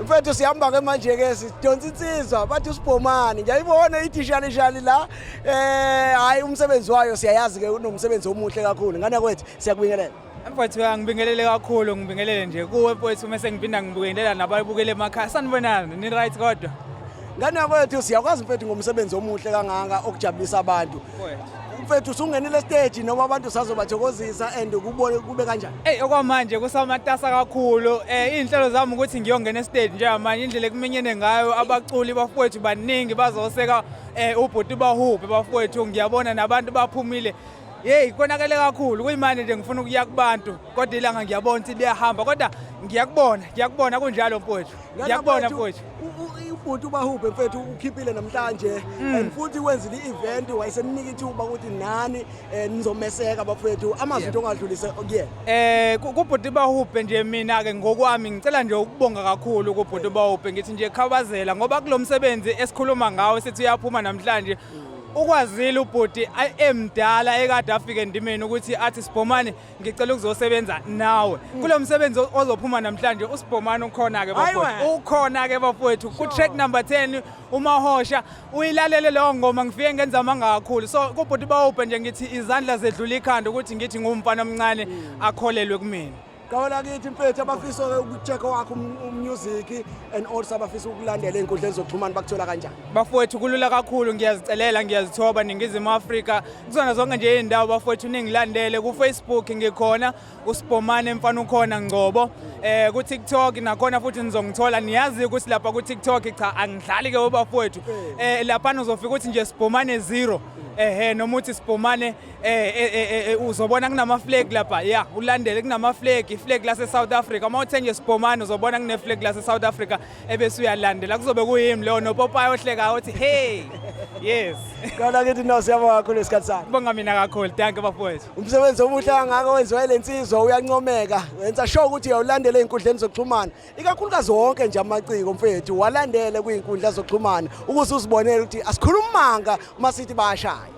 mfethu sihamba ke manje ke sidonsa insizwa bathi usibhomani ngiyayibona idishalishali la um eh, hhayi umsebenzi wayo siyayazi ke unomsebenzi omuhle kakhulu ngane kwethu siyakubingelela mfethu angibingelele kakhulu ngibingelele nje kuwe mfethu uma sengiphinda ngibingelela nabayibukele emakhaya sanibonani ni-right kodwa ngane kwethu siyakwazi mfethu ngomsebenzi omuhle kangaka okujabulisa abantu mfethu usungenile stage noma abantu sazobathokozisa and ukubone kube kanjani eyi okwamanje kusamatasa kakhulu um eh, iy'nhlelo zami ukuthi ngiyongena estage njengamanje indlela ekuminyene ngayo abaculi bafowethu baningi bazoseka um ubhuti bahubhe bafowethu ngiyabona nabantu baphumile yeyi konakele kakhulu kuyimanje nje ngifuna ukuya kubantu kodwa ilanga ngiyabona ukuthi liyahamba kodwa ngiyakubona ngiyakubona kunjalo mfowethu ngiyakubona mfowethu ubhuti ubahubhe mfethu ukhiphile namhlanje mm. and futhi wenzile i-event wayesemnika ithuba ukuthi nani eh, nizomeseka bafowethu amazwi into ongadlulise kuyena eh kubhuti bahubhe nje mina ke ngokwami ngicela nje ukubonga kakhulu kubhuti bahubhe ngithi nje khawazela ngoba kulomsebenzi esikhuluma ngawo sithi uyaphuma namhlanje mm. ukwazile ubhuti emdala ekade afike endimeni ukuthi athi sibhomane ngicela ukuzosebenza nawe kulo msebenzi ozophuma namhlanje usibhomane ukhona-ke bafowethu ukhona-ke bafowethu ku-track number 10 umahosha uyilalele leyo ngoma ngifike ngenza amanga kakhulu so kubhuti bawubhe nje ngithi izandla zedlula ikhanda ukuthi ngithi ngumfana omncane mm. akholelwe kumina qawela kithi mfethu abafisa ukuchecka wakho um, umusic and also abafisa ukulandela ey'nkundleni zokuxhumana bakuthola kanjani bafowethu kulula kakhulu ngiyazicelela ngiyazithoba ningizimu afrika kuzona zonke nje iy'ndawo bafowethu ningilandele kufacebook ngikhona usibhomane mfana ukhona ngcobo um eh, kutiktok nakhona futhi nizongithola niyazi ukuthi lapha kutiktok cha angidlali-ke webafowethu um eh, laphana uzofika ukuthi nje sibhomane zero ehe noma uthi sibhomane um eh, uzobona kunamaflegi lapha ya ulandele kunamaflegi iflegi lase-south africa uma uthe nje sibhomane uzobona kuneflegi lase-south africa ebese uyalandela kuzobe kuyimi leyo nopopayi ohlekayo othi hey yes kona kithi no siyabonga kakhulu isikhathi sakho bonga mina kakhulu danke bafowethu umsebenzi omuhle kangaka wenziwa ile nsizwa uyancomeka wenza sure ukuthi uyawulandela ey'nkundleni zokuxhumana ikakhulukazi wonke nje amaciko mfethu walandele kwiy'nkundla zokuxhumana ukuze uzibonele ukuthi asikhulumi manga uma sithi bayashaya